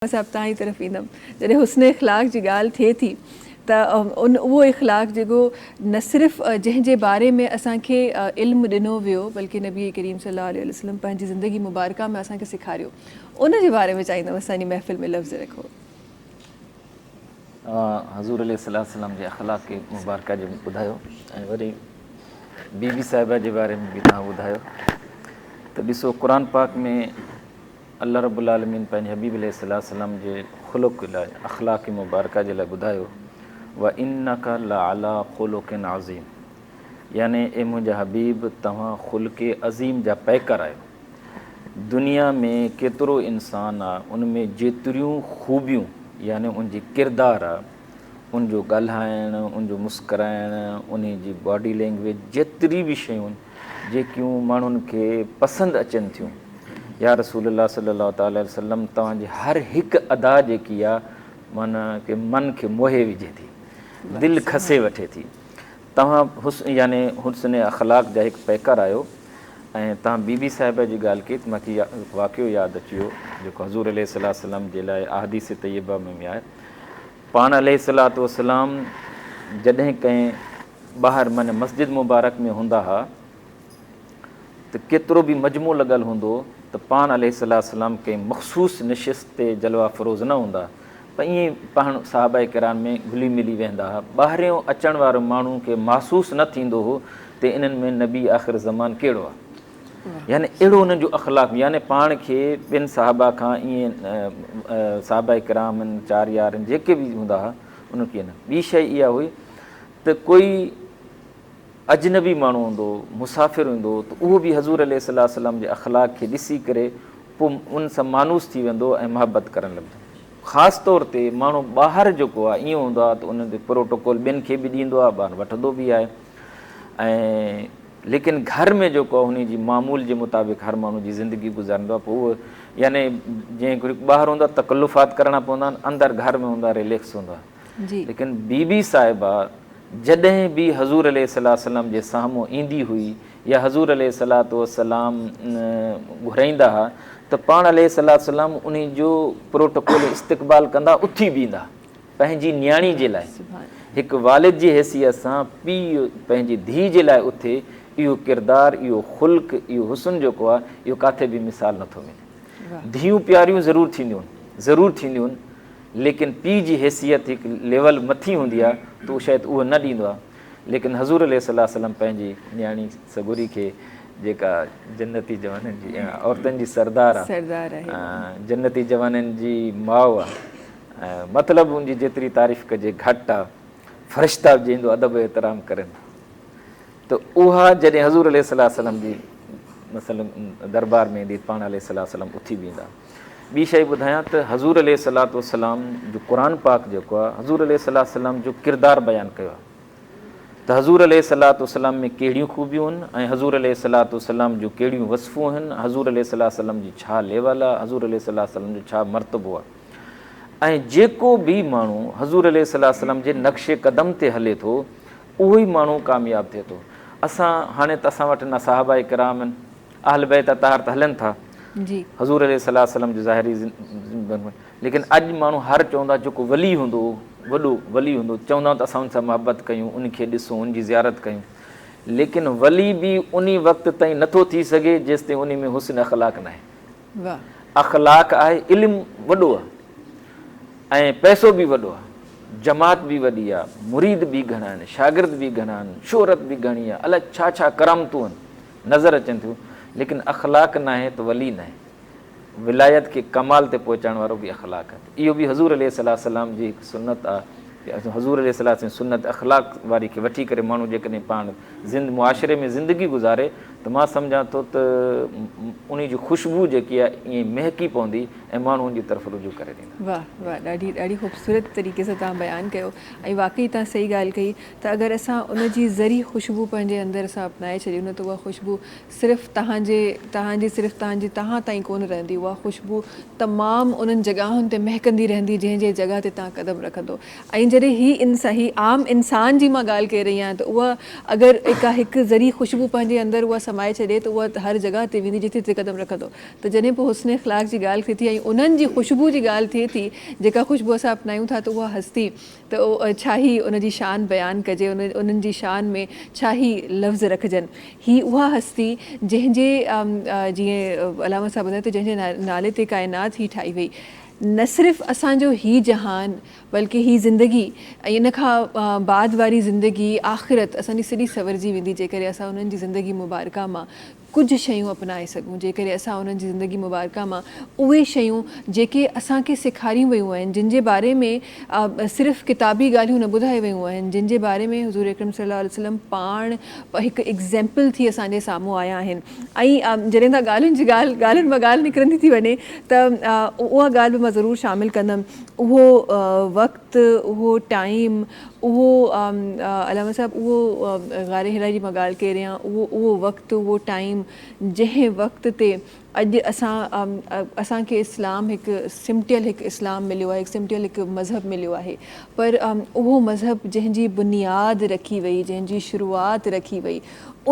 مان صاحب توهان ئي طرف ايندم. جڏهن حسن اخلاق جي ڳالهه ٿئي ٿي ته ان اهو اخلاق جيڪو نه صرف جنهن جي باري ۾ اسان کي علم ڏنو ويو بلڪه نبي ڪريم صلي الله عليه وسلم پنهنجي زندگي مبارڪه ۾ اسان کي سيکاريو ان جي باري ۾ چاهيندم اسان جي محفل ۾ لفظ رکو. اوهان حضور عليه الصلوة والسلام جي اخلاق مبارڪه جو ٻڌايو ۽ وري بي بي صاحبه جي باري ۾ به توهان ٻڌايو ته ڏسو قرآن پاڪ ۾ الله رب العالمين پنهنجي حبيب عليه السلام جي خلق لاء اخلاق مبارڪه جي لاء ٻڌايو، وانک لعلي خلق عظيم يعني اي منهنجا حبيب توهان خلق عظيم جا پيڪر آهيو. دنيا ۾ ڪيترو انسان آ ان ۾ جيتريون خوبيون يعني ان جي ڪردار آ ان جو ڳالهائڻ ان جو مسڪرائڻ انهي جي باڊي لينگويج جيتري به شيون جيڪيون ماڻهن کي پسند اچن ٿيون. يا رسول الله صلي الله تعالٰي عليه وسلم توهان جي هر هڪ ادا جيڪي آ معنيٰ ڪه من کي موهي وجهي ٿي. دل کسي وٺي ٿي. توهان حسن يعني حسن اخلاق جا هڪ پيڪر آهيو ۽ توهان بي بي صاحبه جي ڳالهه ڪئي ته مون کي واقعو ياد اچي ويو جيڪو حضور عليه السلام جي لاء احاديث طيبه ۾ به آهي پاڻ عليه الصلوة والسلام جڏهن ڪنهن ٻاهر معنيٰ مسجد مبارڪ ۾ هوندا ها ته ڪيترو به مجموعو لڳل هوندو ته پاڻ عليه الصلوة والسلام ڪنهن مخصوص نشست تي جلوه فروز نه هوندا پر ائين ئي پاڻ صحابه ڪرام ۾ گهلي ملي ويهندا ها ٻاهريون اچڻ وارو ماڻهو کي محسوس نه ٿيندو هو ته انهن ۾ نبي آخر زمان ڪهڙو آهي. يعني اهڙو انهن جو اخلاق يعني پاڻ کي ٻين صحابه کان ائين صحابه ڪرام هن چار يار هن جيڪي به هوندا ها انهن کي نه ٻي شئي اها هئي ته ڪوئي اجنبي ماڻهو هوندو مسافر هوندو ته اهو به حضور عليه صلي وسلم جي اخلاق کي ڏسي ڪري پو ان سان مانوس ٿي ويندو ۽ محبت ڪرڻ لڳندو خاص طور تي ماڻهو ٻاهر جيڪو آهي ائين هوندو آهي ته انهن تي پروٽوڪول ٻين کي به ڏيندو آهي ٻاهر وٺندو به آهي ۽ ليڪن گهر ۾ جيڪو آهي انهي جي معمول جي مطابق هر ماڻهو جي زندگي گذاريندو آهي پوء اهو يعني جنهن ڪري ٻاهر هوند آهي تڪلفات ڪرڻا پوندا آهن اندر گهر ۾ هوند آهي ريليڪس هوند آهي ليڪن بي بي صاحبه جڏهن به حضور عليه السلام جي سامهون ايندي هئي يا حضور عليه السلام گهرائيندا ها ته پاڻ عليه السلام انهي جو پروٽوڪول استقبال ڪندا اٿي بيهندا. پنهنجي نياڻي جي لاء هڪ والد جي حيثيت سان پيء پنهنجي ڌيء جي لاء اٿي اهو ڪردار اهو خلق اهو حسن جيڪو آهي اهو ڪاٿي به مثال نٿو ملي ڌيئون پياريون ضرور ٿينديون ضرور ٿينديون ليڪن پيء جي حيثيت هڪ ليول مٿي هوندي آهي ته اهو شايد اهو نه ڏيندو آهي ليڪن حضور عليه صلي وسلم پنهنجي نياڻي سڳوري کي جيڪا جنتي جوانن جي عورتن جي سردار آهي جنتي جوانن جي ماء آهي مطلب ان جي جيتري تعريف ڪجي گهٽ آ. فرشتا به جنهن جو ادب و احترام ڪرين ٿا ته اها جڏهن حضور عليه السلام جي مثلا دربار ۾ ايندي پاڻ عليه السلام اٿي بيهندا. ٻي شيء ٻڌايان ته حضور عليه السلام جو قرآن پاڪ جيڪو آ حضور عليه السلام جو ڪردار بيان ڪيو آ ته حضور عليه السلام ۾ ڪهڙيون خوبيون هن ۽ حضور عليه السلام جون ڪهڙيون وصفون هن، حضور عليه السلام جي ڇا ليول آ، حضور عليه السلام جو ڇا مرتبو آ. ۽ جيڪو به ماڻهو حضور عليه صلي وسلم جي نقش قدم تي هلي ٿو اهو ئي ماڻهو ڪامياب ٿئي ٿو اسان هاڻي ته اسان وٽ نه صحابه ڪرام آهن اهل بيت اطهار ته هلن ٿا حضور عليه صلي وسلم جو ظاهري ليڪن اڄ ماڻهو هر چوندا جيڪو ولي هوندو وڏو ولي هوندو چوندا ته اسان ان سان محبت ڪيون ان کي ڏسون ان جي زيارت ڪيون ليڪن ولي به انهي وقت تائين نٿو ٿي سگهي جيستائين انهي ۾ حسن اخلاق ناهي اخلاق آهي، علم وڏو آهي ۽ پئسو به وڏو آهي، جماعت به وڏي آهي، مريد به گهڻا آهن، شاگرد به گهڻا آهن، شهرت به گهڻي آهي، الاء ڇا ڇا ڪرامتون آهن، نظر اچن ٿيون، ليڪن اخلاق ناهي ته ولي ناهي. ولايت کي ڪمال تي پهچائڻ وارو به اخلاق آهي. اهو به حضور عليه السلام جي هڪ سنت آ ته حضور عليه السلام جي سنت اخلاق واري کي وٺي ڪري ماڻهو جيڪڏهن پاڻ زند معاشري ۾ زندگي گذاري ته مان سمجهان ٿو ته انهي جي خوشبو جيڪي آ ائين مهڪي پوندي ۽ ماڻهو ان جي طرف رجوع ڪري ويندا. واھ واھ ڏاڍي ڏاڍي خوبصورت طريقي سان توهان بيان ڪيو ۽ واقعي توهان صحيح ڳالهه ڪئي ته اگر اسان ان جي ذري خوشبو پنهنجي اندر اسان اپنائي ڇڏيون نه ته اها خوشبو صرف توهان جي، توهان جي صرف توهان جي توهان تائين ڪونه رهندي، اها خوشبو تمام انهن جڳهن تي مهڪندي رهندي جنهن جي جڳهه تي توهان قدم رکندو ۽ جڏهن هي انسان هي عام انسان جي مان ڳالهه ڪري رهي آهيان ته اها اگر اڪا هڪ ذري خوشبو پنهنجي اندر اها سمائي ڇڏي ته اها هر جڳهه تي ويندي جتي جتي قدم رکندو ته جڏهن پوء حسن اخلاق جي ڳالهه ٿئي ٿي ۽ انهن جي خوشبو جي ڳالهه ٿئي ٿي جيڪا خوشبو اسان اپنايون ٿا ته اها هستي ته ڇا هي ان جي شان بيان ڪجي، انهن جي شان ۾ ڇا هي لفظ رکجن. هي اها هستي جنهن جي جيئن علامه صاحب ٻڌايو ته جنهن جي نالي تي ڪائنات هي ٺاهي وئي. نه صرف اسان جو هي جهان بلڪه هي زندگي ۽ ان کان بعد واري زندگي آخرت اسان جي سڄي سنورجي ويندي جيڪڏهن اسان انهن جي زندگي مبارڪه مان ڪجهه شيون اپنائي سگهون جيڪڏهن اسان انهن جي زندگي مبارڪه مان اهي شيون جيڪي اسان کي سيکاريون ويون آهن جن جي باري ۾ صرف ڪتابي ڳالهيون نه ٻڌايو ويون آهن جن جي باري ۾ حضور اڪرم صلي الله عليه وسلم پاڻ هڪ ايگزيمپل ٿي اسان جي سامهون آيا آهن ۽ جڏهن ته ڳالهين جي ڳالهه ڳالهين مان ڳالهه نڪرندي ٿي وڃي ته اها ڳالهه به مان ضرور شامل ڪندم اهو وقت اهو ٽائيم اهو علامه صاحب اهو غار حرا جي مان ڳالهه ڪي رهيان اهو اهو وقت اهو ٽائيم جنهن وقت تي اڄ اسان اسان کي اسلام هڪ سمٽيل هڪ اسلام مليو آهي هڪ سمٽيل هڪ مذهب مليو آهي پر اهو مذهب جنهن جي بنياد رکي وئي جنهن جي شروعات رکي وئي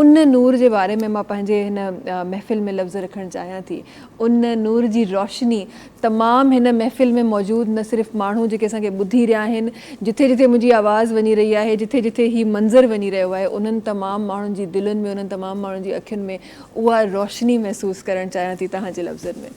ان نور جي باري ۾ مان پنهنجي هن محفل ۾ لفظ رکڻ چاهيان ٿي ان نور جي روشني تمام هن محفل ۾ موجود نه صرف ماڻهو جيڪي اسان کي ٻڌي رهيا آهن جٿي جٿي منهنجي آواز وڃي رهي آهي جٿي جٿي هي منظر وڃي رهيو آهي انهن تمام ماڻهن جي دلين ۾ انهن تمام ماڻهن جي اکين ۾ اها روشني محسوس ڪرڻ چاهيان ٿي تهان جي لفظن ۾.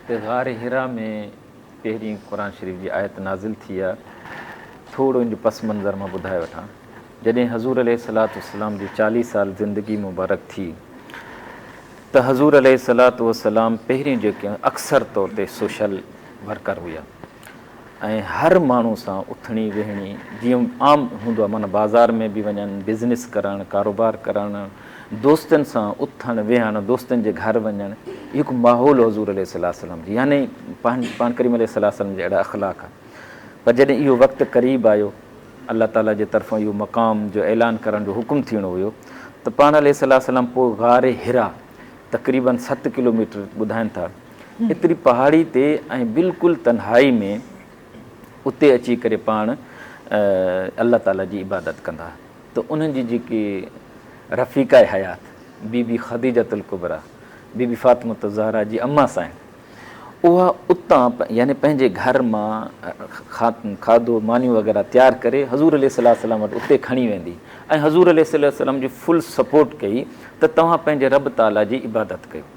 تي غار حرا ۾ پهرين قرآن شريف جي آيت نازل ٿي آ، ٿورو ان جو پس منظر مان ٻڌائي وٺان. جڏهن حضور عليه الصلوة والسلام جي چاليهه سال زندگي مبارڪ ٿي ته حضور عليه الصلوة والسلام پهرين جيڪي اڪثر طور تي سوشل ورڪر هيا، ۽ هر ماڻهو سان اٿڻي ويهڻي جيئن عام هوندو آهي معنيٰ بازار ۾ به وڃن بزنس ڪرڻ ڪاروبار ڪرڻ دوستن سان اٿڻ ويهڻ دوستن جي گهر وڃڻ اهو هڪ ماحول حضور عليه الصلوة والسلام جي يعني پاڻ ڪريم عليه الصلوة والسلام جا اهڙا اخلاق ها پر جڏهن اهو وقت قريب آيو الله تعالي جي طرفان اهو مقام جو اعلان ڪرڻ جو حڪم ٿيڻو هيو ته پاڻ عليه الصلوة والسلام پوء غار حرا تقريباً ست ڪلوميٽر ٻڌائن ٿا ايتري پهاڙي تي ۽ بلڪل تنهائي ۾، اتي اچي ڪري پاڻ الله تعاليٰ جي عبادت ڪندا ته انهن جي جيڪي رفيقه حيات بي بي خديجة الڪبريٰ بي بي فاطمة الزهراء جي اما سائڻ اها اتان يعني پنهنجي گهر مان کاڌو مانيون وغيره تيار ڪري حضور عليه السلام وٽ اتي کڻي ويندي ۽ حضور عليه السلام جي فل سپورٽ ڪئي ته توهان پنهنجي رب تعاليٰ جي عبادت ڪيو.